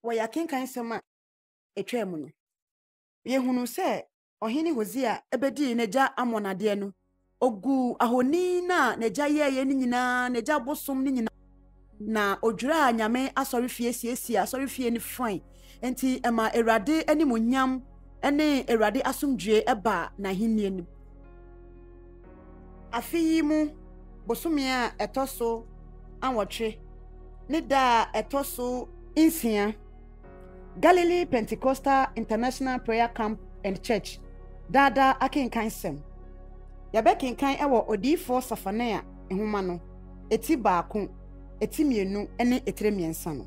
Wɔ yɛn akenkan nsɛm a ɛtwaa mu no, yɛhunu sɛ ɔhene Hosea bɛdii n'agya Amon adeɛ no, ɔguu ahoni no a n'agya yɛeɛ no nyinaa, n'agya bosom no nyinaa, na ɔdwiraa nyame asɔrefie siesie asɔrefie no fae. Enti ɛmaa Awurade animuonyam ne Awurade asomdwoe baa n'ahenni no mu. Afe yi mu bosome a ɛtɔ so awɔtwe ne da a ɛtɔ so nsia, Galilee Pentecostal International Prayer Camp and Church daadaa akenkan sɛm. Yɛbɛkenkan wɔ Odiyifoɔ Sefania nwoma no, eti baako, eti mmienu, ne etire mmiɛnsa no.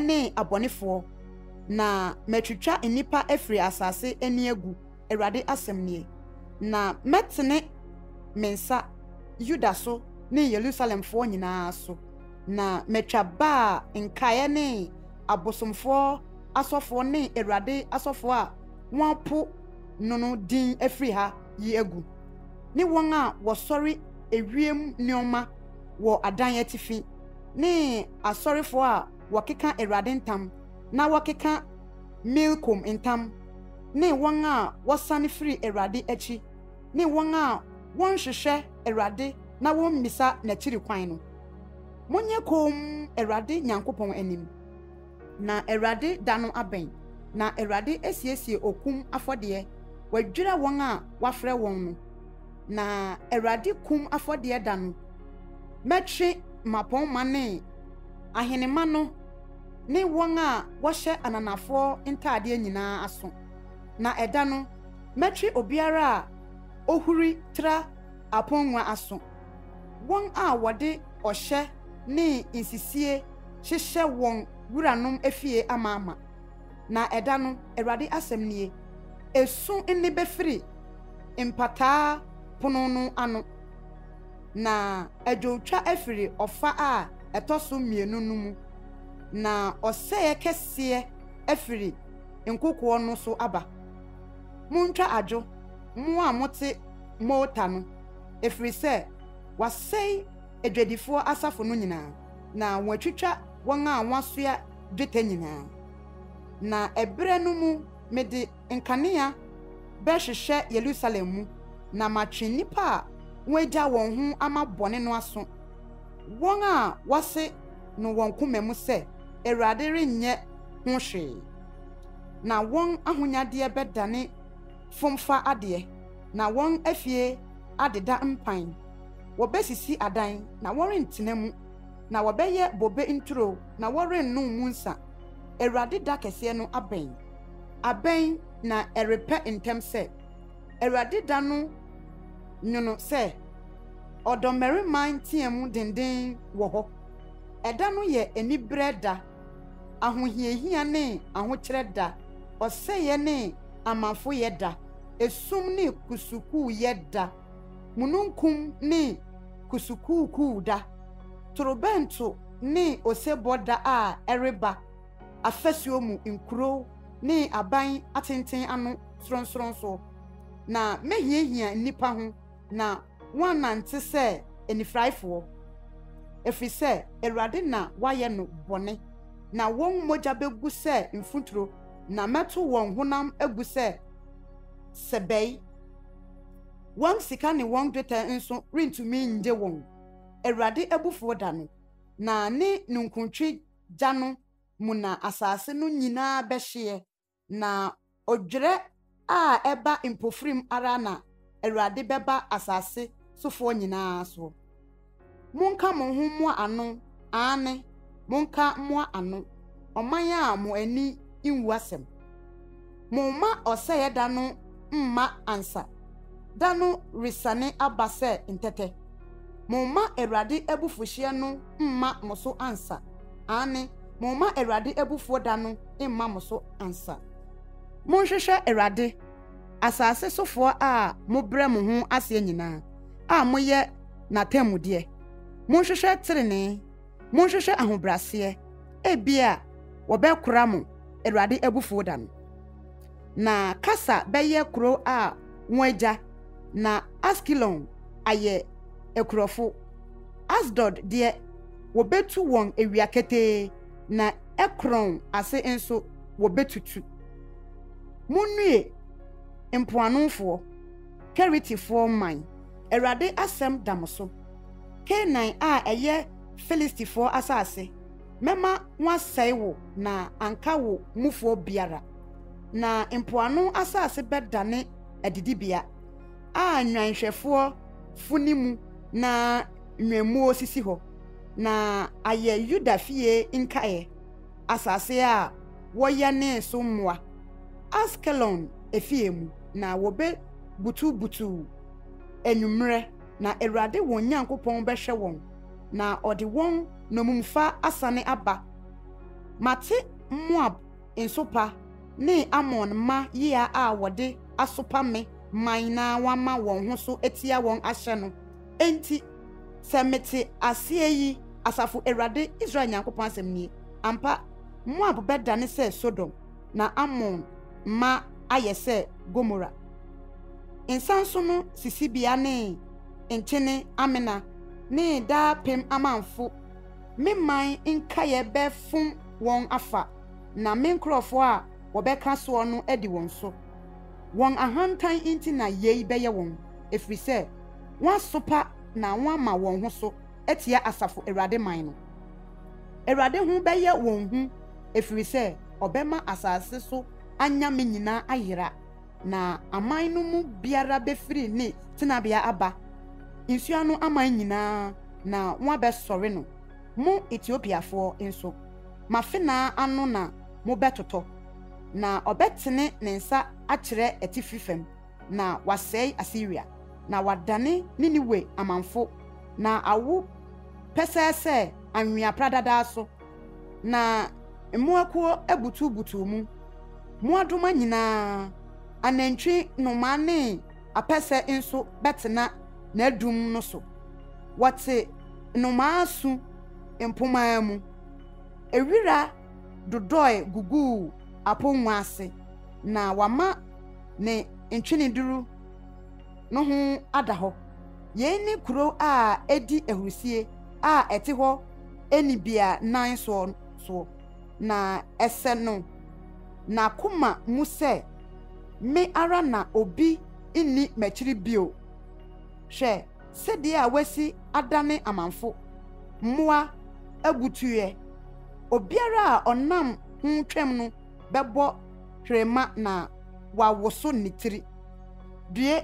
ne abɔnefoɔ, na matwitwa nnipa afiri asase ani agu, Awurade asɛm nie. Na mɛtene me nsa Yuda so ne Yerusalemfoɔ nyina ara so, na matwa Baal nkaeɛ ne abosomfoɔ asɔfoɔ ne Awurade asɔfoɔ a wɔapo no no din afiri ha yi agu, ne wɔn a wɔsɔre ewiem nneɛma wɔ adan atifi. ne asɔrefoɔ a wɔkeka Awurade ntam na wɔkeka Milkom ntam, ne wɔn a wɔsane firi Awurade akyi, ne wɔn a wɔnhwehwɛ Awurade na wɔmmisa n'akyiri kwan no. Monyɛ komm Awurade Nyankopɔn anim. Na Awurade da no abɛn, na Awurade asiesie okum afɔdeɛ, wadwira wɔn a wafrɛ wɔn no. Na Awurade kum afɔdeɛ da no, mɛtwe mmapɔmma ne ahenemma no ne wɔn a wɔhyɛ ananafoɔ ntadeɛ nyinaa aso, na ɛda no, mɛtwe obiara a ɔhuri tra aponnwa aso. Wɔn a wɔde ɔhyɛ ne nsisie hyehyɛ wɔn wuranom afie amaama. Na ɛda no, Awurade asɛm nie, esu nne bɛfiri Mpataa Pono no ano, na adwowtwa afiri ɔfa a ɛtɔ so mmienu no mu, na ɔsɛeɛ kɛseɛ afiri nkokoɔ no so aba. Montwa adwo, mo a mote Mota no. ɛfiri sɛ wɔasɛe adwadifoɔ asafo no nyinaa, na wɔatwitwa wɔn a wɔasoa dwetɛ nyinaa. Na ɛberɛ no mu mede nkanea bɛhwehwɛ Yerusalem mu, na matwe nnipa a wɔagya wɔn ho ama bɔne no aso, wɔn a wɔase no wɔn koma mu sɛ, Awurade renyɛ ho hwee, na wɔn ahonyadeɛ bɛdane fomfa adeɛ. na wɔn afie adeda mpan. Wɔbesisi adan, na wɔrentena mu, na wɔbɛyɛ bobe nturo, na wɔrennom mu nsã. Awurade da kɛseɛ no abɛn. Abɛn, na ɛrepɛ ntɛm sɛ. Awurade da no nwono sɛ ɔdɔmmarima nteamu denden wɔ hɔ. Ɛda no yɛ aniberɛ da. Ahohiahia ne ahokyerɛ da, ɔsɛeɛ ne amafoyɛ da, esum ne kusukuuyɛ da, mununkum ne kusukuukuu da, torobɛnto ne osebɔ da a ɛreba, afasuo mu nkuro ne aban atenten ano sorɔnsorɔnsoɔ. Na mɛhiahia nnipa ho, na wɔannante sɛ anifuraefoɔ, ɛfiri sɛ Awurade na wayɛ no bɔne, na wɔn mogya bɛgu sɛ mfuturo, na mɛto wɔn honam agu sɛ sɛbɛe. Wɔn sika ne wɔn dwetɛ nso rentumi nnye wɔn. Awurade abufuo da no, na ne ninkuntwe gya no mu na asase no nyinaa bɛhyeɛ. Na odwerɛ a ɛba mpofirim ara na Awurade bɛba asase sofoɔ nyina ara soɔ. Monka mo ho mmoa ano, aane, monka mmoa ano, ɔman a mo ani nwu asɛm. Momma ɔsɛeɛ da no mma ansa, da no resiane aba sɛ ntɛtɛ. Momma Awurade abufuhyeɛ no mma mo so ansa, aane, momma Awurade abufuo da no mma mo so ansa. Monhwehwɛ Awurade, asase sofoɔ a mobrɛ mo ho aseɛ nyinaa, a moyɛ n'atanmudeɛ. Monhwehwɛ tenenee, monhwehwɛ ahobrɛaseɛ, ebia wɔbɛkora mo Awurade abufuo da no. na Kasa bɛyɛ kurow a wɔagya, na Askelon ayɛ akurofo. Asdod deɛ, wɔbɛtu wɔn awia ketee, na Ekron ase nso, wɔbɛtutu. Munnue, mpoanofoɔ, Keretifoɔ mman, Awurade asɛm da mo so, Kanaan a ɛyɛ Filistifoɔ asase. mɛma wɔasɛe wo na anka wo mufoɔ biara, na mpoano asase bɛdane adidibea a nnwanhwɛfoɔ funi mu na nnwammuo sisi hɔ, na ayɛ Yuda fie nkaeɛ, asase a wɔyɛnee so mmoa, Askelon afie mu, na wɔbɛbutubutu anwummerɛ. na Awurade wɔn Nyankopɔn bɛhwɛ wɔn, na ɔde wɔn nnommumfa asane aba. Mate Moab nsopa ne Amon mma yea a wɔde asopa me man na wɔama wɔn ho so atia wɔn ahyɛ no. Enti, sɛ mete aseɛ yi, asafo Awurade, Israel Nyankopɔn asɛm nie, ampa, Moab bɛdane sɛ Sodom. na Ammon ma ayɛ sɛ Gomora. Nsanso no sisibea ne nkyene amena ne daapem amamfo. Me man nkaeɛ bɛfom wɔn afa, na me nkurɔfoɔ a wɔbɛka soɔ no adi wɔn so. Wɔn ahantan nti na yei bɛyɛ wɔn, ɛfiri sɛ wɔasopa na wɔama wɔn ho so. atia Asafo Awurade man no. Awurade ho bɛyɛ wɔn hu, ɛfiri sɛ ɔbɛma asase so anyame nyinaa ayera, na aman no mu biara bɛfiri ne tenabea aba, nsuo ano aman nyinaa, na wɔabɛsɔre no. Mo Etiopiafoɔ nso, mo afenaa ano na mobɛtotɔ. Na ɔbɛtene ne nsa akyerɛ atifi fam. na wɔasɛe Asiria, na wɔadane Niniwe amamfo, na awo pɛsɛɛ sɛ anwea pradadaa so, na mmoakuo abutubutuw mu, mmoadoma nyinaa, anantwi, nnomaa ne apɛsɛ nso bɛtena n'adum no so. Wɔte nnomaa su mpomma mu. Ewira dodɔe guguu apongua ase, na wɔama ne ntweneduru no ho ada hɔ. Yei ne kuro a ɛdi ahurusie a ɛte hɔ nnibea nan soɔ soɔ, na ɛsɛ no n'akoma mu sɛ, Me ara na obi nni m'akyiri bio. Hwɛ sɛdeɛ a wasi adane amanfo, mmoa abutuiɛ, obiara a ɔnam ho twam no. bɛbɔ hwerema na wawoso ne tiri. Due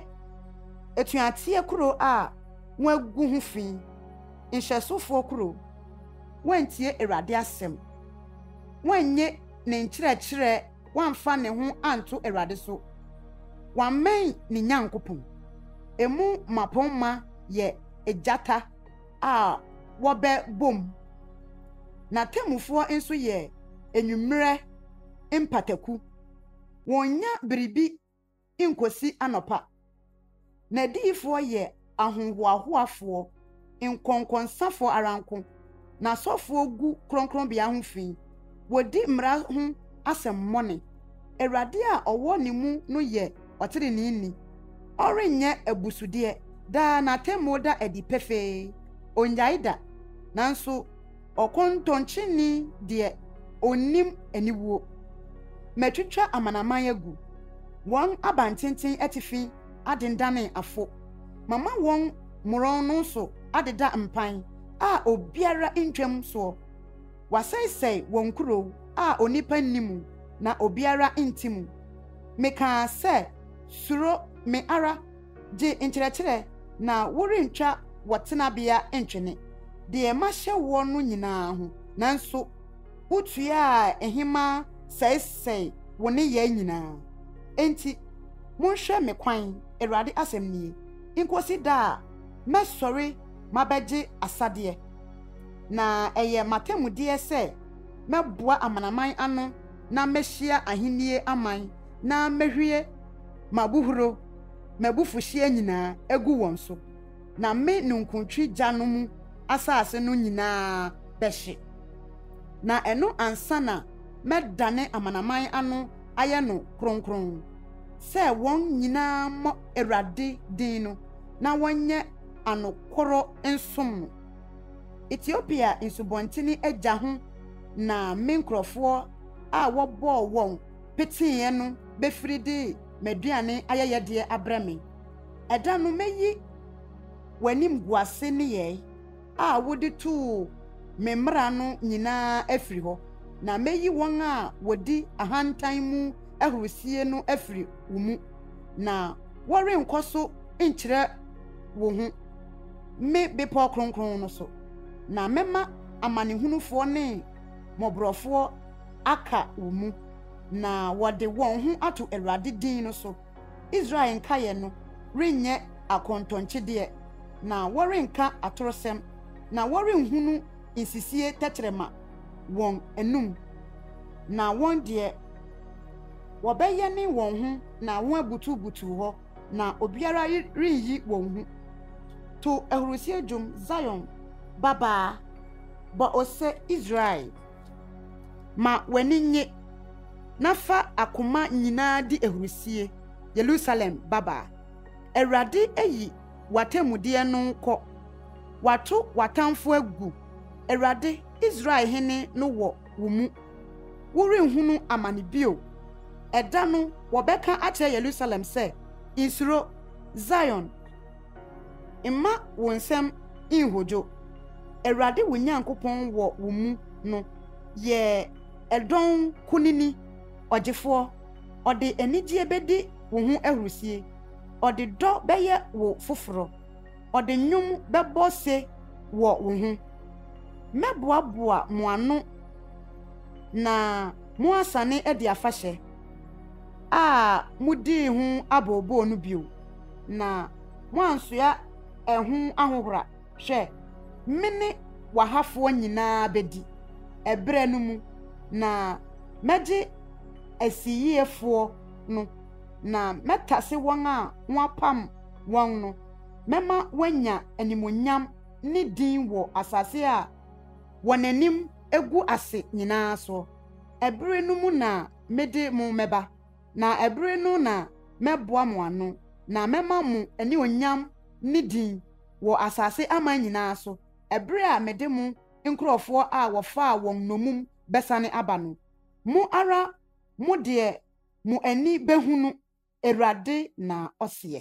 atuateɛ kuro a wɔagu ho fi, nhyɛsofoɔ kuro, woantie Awurade asɛm, woannye ne nkyerɛkyerɛ, woamfa ne ho anto Awurade so, woammɛn ne Nyankopɔn. Emu mmapɔmma yɛ agyata. a wɔbɛbom. N'atemmufoɔ nso yɛ anwummerɛ mpataku. Wɔnnya biribi nkɔsi anɔpa. N'adiyifoɔ yɛ ahohoahoafoɔ, nkɔnkɔnsafoɔ ara nko. N'asɔfoɔ gu kronkronbea ho fi. Wɔdi mmara ho asɛmmɔne. Awurade a ɔwɔ ne mu no yɛ ɔteneneeni. Ɔrenyɛ abusudeɛ. Daa n'atemmuo da adi pefee. Ɔnnyae da. Nanso ɔkɔntɔnkyeni deɛ, ɔnnim aniwuo. Matwitwa amanaman agu. Wɔn abantenten atifi adendane afo. Mama wɔn mmorɔn no so adeda mpan a obiara ntwam soɔ. Wɔasɛesɛe wɔn nkurow a onipa nni mu na obiara nte mu. Mekaa sɛ, Suro me ara, gye nkyerɛkyerɛ, na worentwa wɔ tenabea ntwene deɛ mahyɛ woɔ no nyinaa ho, nanso wotuaa ɛhemaa sɛesɛee wo nneyɛe nyinaa. Enti monhwɛ me kwan, Awurade asɛm nie, nkɔsi da a mɛsɔre mabɛgye asadeɛ. Na ɛyɛ m'atemmudeɛ sɛ mɛboa amanaman ano na mɛhyia ahennie aman na mɛhwie m'abuhuro, m'abufuhyeɛ nyinaa, agu wɔn so, na me ninkuntwe gya no mu asase no nyinaa bɛhye. Na ɛno ansa na mɛdane amanaman ano ayɛ no kronkron, sɛ wɔn nyinaa mmɔ Awurade din no na wɔnyɛ anokorɔ nsom no. Etiopia nsubɔntene agya ho na me nkurɔfoɔ a wɔbɔɔ wɔn peteeɛ no bɛfiri de m'aduane ayɛyɛdeɛ abrɛ me. Ɛda no mɛyi w'animguase nneyɛe a wode too me mmara no nyinaa afiri hɔ, na mɛyi wɔn a wɔdi ahantan mu ahurisie no afiri wo mu, na wɔrenkɔ so nkyerɛ wo ho. me bepɔw kronkron no so, na mɛma amanehunufoɔ ne mmɔborɔfoɔ aka wo mu, na wɔde wɔn ho ato Awurade din no so. Israel nkaeɛ no renyɛ akɔntɔnkyedeɛ, na wɔrenka atorosɛm, na wɔrenhunu nsisie tɛkyerɛma wɔn anom, na wɔn deɛ, wɔbɛyɛne wɔn ho na wɔabutubutu hɔ. na obiara renyi wɔn hu. To ahurisie dwom, Zion babaa, bɔ ose, Israel, ma w'ani nnye, na fa akoma nyinaa di ahurisie, Yerusalem babaa. Awurade ayi w'atemmudeɛ no kɔ, wato w'atamfo agu, Awurade, Israel hene no wɔ wo mu. Worenhunu amane bio. Ɛda no wɔbɛka akyerɛ Yerusalem sɛ, Nsuro, Zion, mma wo nsam nhodwo. Awurade wo Nyankopɔn wɔ wo mu no yɛ ɛdɔn kunini, ɔgyefoɔ. Ɔde anigyeɛ bɛdi wo ho ahurisie, ɔde dɔ bɛyɛ wo foforɔ. ɔde nnwom bɛbɔ se wɔ wo ho. Mɛboaboa mo ano na moasane adi afahyɛ a modii ho abooboo no bio, na moansoa ɛho ahohora. Hwɛ, me ne w'ahafoɔ nyinaa bɛdi ɛberɛ no mu, na mɛgye asiyiefoɔ no, na mɛtase wɔn a moapam wɔn no. Mɛma woanya animuonyam ne din wɔ asase a wɔn anim agu ase nyinaa so. Ɛbere no mu na mede mo mɛba, na ɛbere no na mɛboa mo ano, na mɛma mo anuonyam ne din wɔ asase aman nyinaa so, ɛbere a mede mo nkurɔfoɔ a wɔfaa wɔn nnommum bɛsane aba no. Mo ara mo deɛ mo ani bɛhunu, Awurade na ɔseɛ.